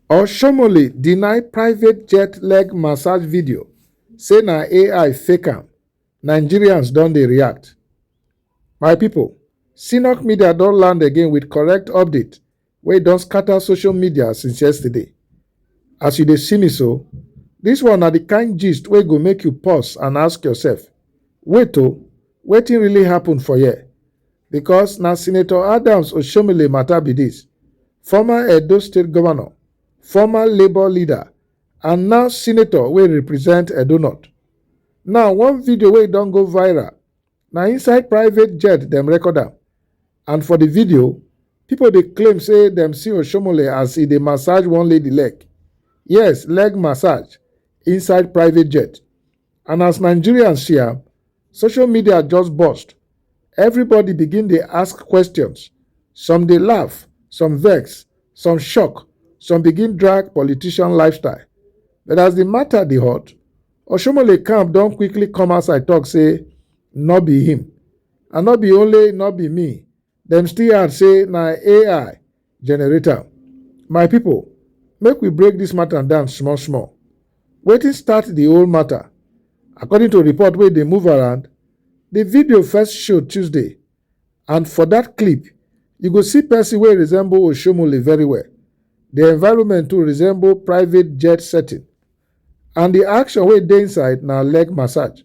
Oshomole deny private jet leg massage video, say na AI fake am. Nigerians don dey react. My people, Sinok Media don land again with correct update wey don scatter social media since yesterday. As you dey see me so, this one na the kind gist wey go make you pause and ask yourself, wait o, wetin really happen for here? Because na Senator Adams Oshomile matter be this, former Edo State governor, former Labour leader, and now senator wey represent Edo North. Now one video wey don go viral, na inside private jet dem record am, and for the video, people dey claim say dem see Oshomole as e dey massage one lady leg. Yes, leg massage inside private jet. And as Nigerians see am, social media just burst. Everybody begin dey ask questions. Some dey laugh, some vex, some shock, some begin drag politician lifestyle. But as the matter dey hot, Oshomole camp don quickly come outside talk say no be him. And no be only no be me, Dem still add say na AI generate am. My people, make we break this matter down small small. Wetin start the whole matter? According to report wey dey move around, the video first show Tuesday and for that clip, you go see person wey resemble Oshomole very well. The environment too resemble private jet setting and the action wey dey inside na leg massage.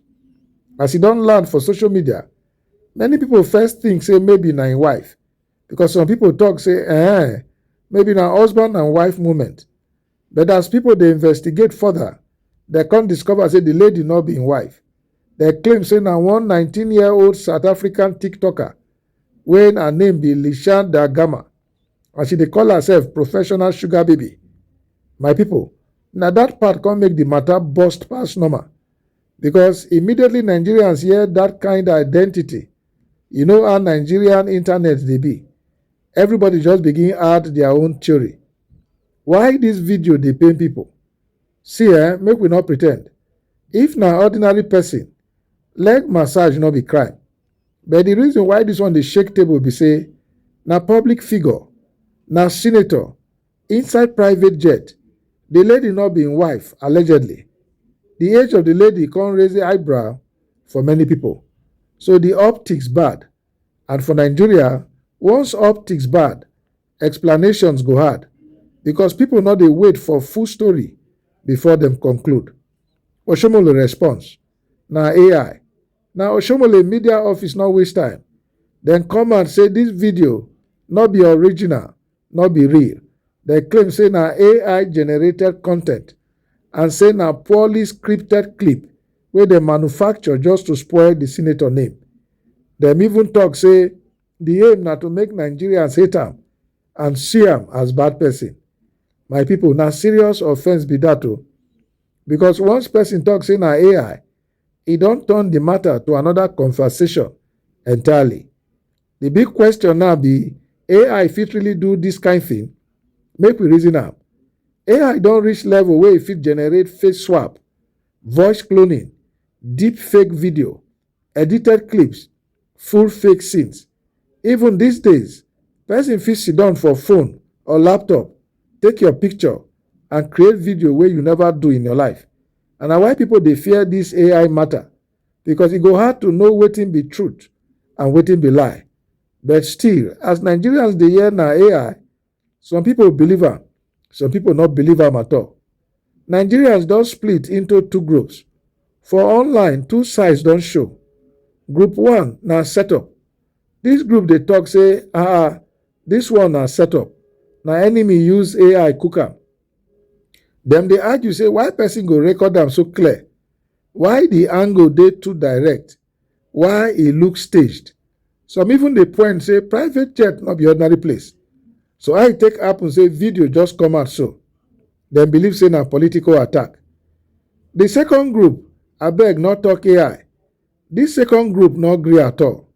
As e don land for social media, Many people first think say maybe na im wife because some people talk say eh, maybe na husband and wife moment. But as people dey investigate further, they come discover say the lady no be im wife. They claim say na one 19-year-old South African TikToker wey her name be Lishan Da Gama and she dey call herself professional sugar baby. My people, na that part come make the matter burst pass normal. because immediately Nigerians hear that kind identity, you know how Nigerian internet they be. Everybody just begin add their own theory. Why this video they pain people? See eh, make we not pretend. If na ordinary person, leg massage not be crime. But the reason why this one they shake table be say, na public figure, na senator, Inside private jet, di lady no be im wife, allegedly. Di age of di lady come raise eyebrow for many pipo. So di optics bad? And for Nigeria, once optics bad, explanations go hard because pipo no dey wait for full story before dem conclude. Oshiomole response na ai. Na Oshiomole media office no waste time, dem come out say dis video no be original no be real dem claim say na ai generated content and say na poorly scripted clip wey dem manufacture just to spoil di senator name dem even tok say di aim na to make nigerians hate am and see am as bad person my pipo na serious offence be dat o because once person tok say na ai e don turn di matter to another conversation entirely The big question now be AI fit really do this kind thing? Make we reason am. AI don reach level wey e fit generate face swap, voice cloning, deep fake video, edited clips, full fake scenes. Even these days, person fit sit down for phone or laptop, take your picture and create video wey you never do in your life. And na why people dey fear this AI matter. because e go hard to know wetin be truth and wetin be lie. But still, as Nigerians dey hear na AI, some people believe am, some people not believe am at all. Nigerians don split into two groups. For online, two sides don show. Group one na setup. This group dey talk say, ah, ah this one na setup. Na enemy use AI cook am. Dem dey argue say why person go record am so clear Why di angle dey too direct why e look staged, some even dey point say private jet no be ordinary place, so how e take happen say video just come out so? Dem believe say na political attack. Di second group abeg no talk ai, dis second group no gree at all,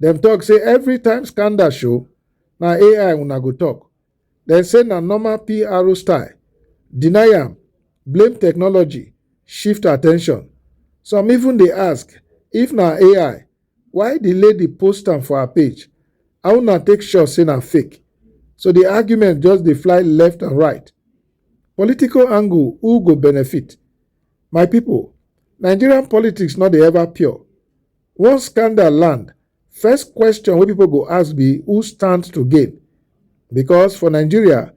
dem talk say everytime scandal show na ai una go talk. Dem say na normal PRO style, deny am, blame technology, shift attention. Some even dey ask if na AI, why di lady post am for her page? How una take sure say na fake? So di argument just dey fly left and right. Political angle, who go benefit? My people, Nigerian politics no dey ever pure. Once scandal land, first question wey people go ask be who stands to gain? Because for Nigeria,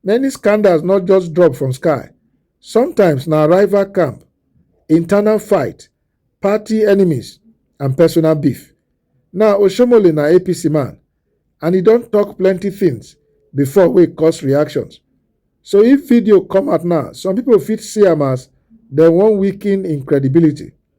many scandals not just drop from sky. Sometimes na rival camp, internal fight, party enemies and personal beef. Now Oshomole na APC man and he don talk plenty things before wey cause reactions. So if video come out now, some people fit see am as dem wan weaken im credibility.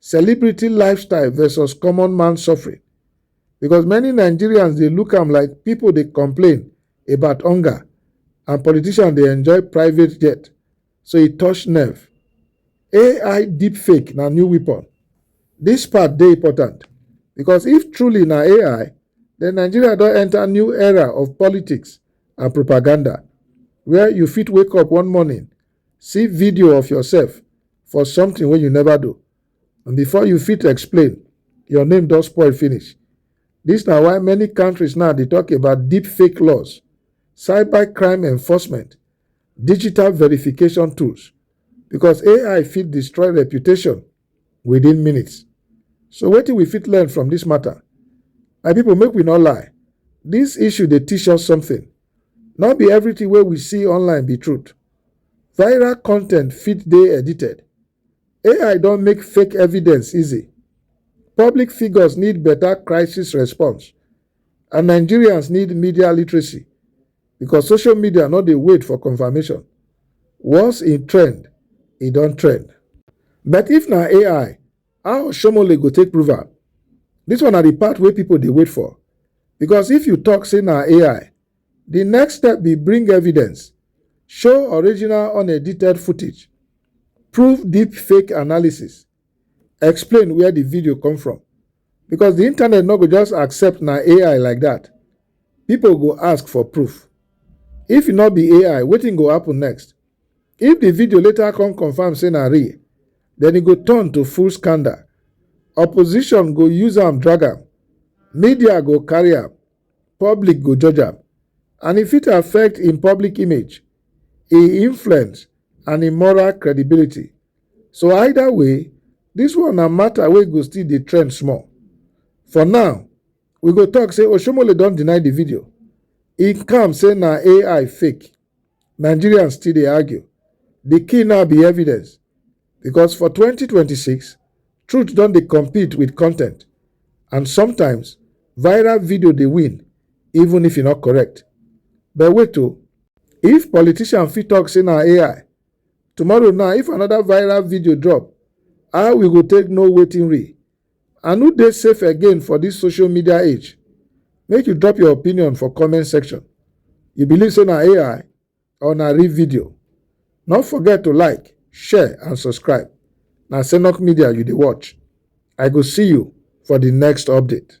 celebrity lifestyle versus common man suffering because many nigerians dey look am like people dey complain about hunger and politicians dey enjoy private jet so e touch nerve ai deepfake na new weapon This part dey important because if truly na ai then nigeria don enter new era of politics and propaganda where you fit wake up one morning See video of yourself for something wey you never do and before you fit explain, your name don spoil finish. This na why many countries now dey talk about deep fake laws, cyber crime enforcement, digital verification tools because AI fit destroy reputation within minutes. So wetin we fit learn from this matter? My people, make we not lie. This issue they teach us something. Not be everything where we see online be truth. Viral content fit they edited. AI don't make fake evidence easy. Public figures need better crisis response, and Nigerians need media literacy. because social media no dey wait for confirmation. Once e trend, e don trend. But if na AI, how Oshomole go take prove am? This one na the part wey people dey wait for because if you talk say na AI, the next step be bring evidence, show original unedited footage, prove deep fake analysis, explain where the video come from because the internet no go just accept na ai like that people go ask for proof if e no be ai wetin go happen next if the video later come confirm say na real then e go turn to full scandal opposition go use am drag am media go carry am public go judge am and e fit affect im public image im influence and im moral credibility So either way, this one na matter wey go still dey trend small. For now, we go talk say Oshomole don deny the video. He come say na AI fake. Nigerians still dey argue. The key now be evidence because for 2026, truth don dey compete with content and sometimes viral video dey win even if e no correct. But wait o, if politician fit talk say na AI, tomorrow now if another viral video drop how we go take know wetin real and who dey safe again for this social media age make you drop your opinion for comment section you believe say na ai or na real video no forget to like share and subscribe na senok media you dey watch i go see you for the next update